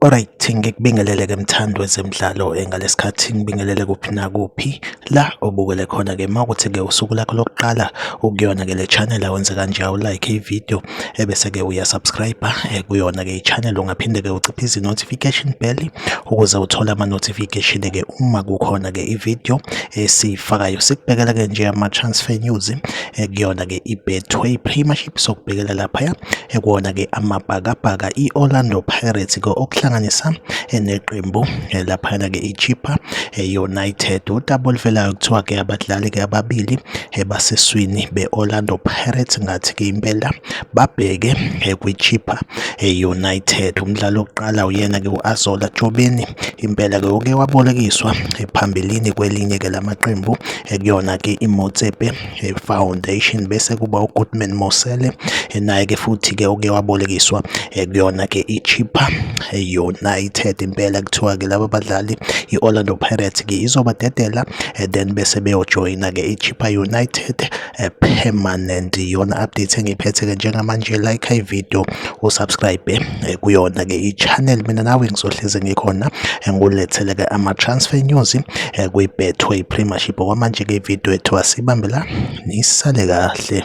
Alright, ngikubingelele ke mthando wezemidlalo eh, ngalesikhathi ngibingelele kuphi nakuphi la obukele khona ke mawukuthi ke usuku lakho lokuqala ukuyona ke le channel awenze kanje awu like ivideo ebese ke uya subscribe eh, kuyona ke i-channel ungaphinde ke uciphe izi-notification bell ukuze uthole ama-notification ke uma kukhona ke i-video esiyifakayo sikubhekela ke nje ama-transfer news eh, kuyona ke i-betway premiership sokubhekela laphaya ekuwona eh, ke amabhakabhaka i-orlando pirates ke okuhlanganisa neqembu laphayana ke i-chipa united utabulivelayo kuthiwa ke abadlali ke ababili ebaseswini be-Orlando Pirates ngathi-ke impela babheke kwiChippa United. Umdlalo wokuqala uyena-ke u-Azola Tshobeni impela-ke uke wabolekiswa phambilini kwelinye-ke lamaqembu ekuyona-ke iMotsepe Foundation bese kuba uGoodman Mosele naye-ke futhi-ke uke wabolekiswa ekuyona-ke iChippa United. Impela kuthiwa-ke laba badlali i-Orlando Pirates-ke izobadedela eh, then bese beyojoyina ke iChippa United eh, permanent yona update engiphethe ke njengamanje like i video usubscribe eh, kuyona ke ichannel mina nawe ngizohleze ngikhona ngulethele ke ama transfer news kwi Betway Premiership kwamanje ke video ethu asibambela nisale kahle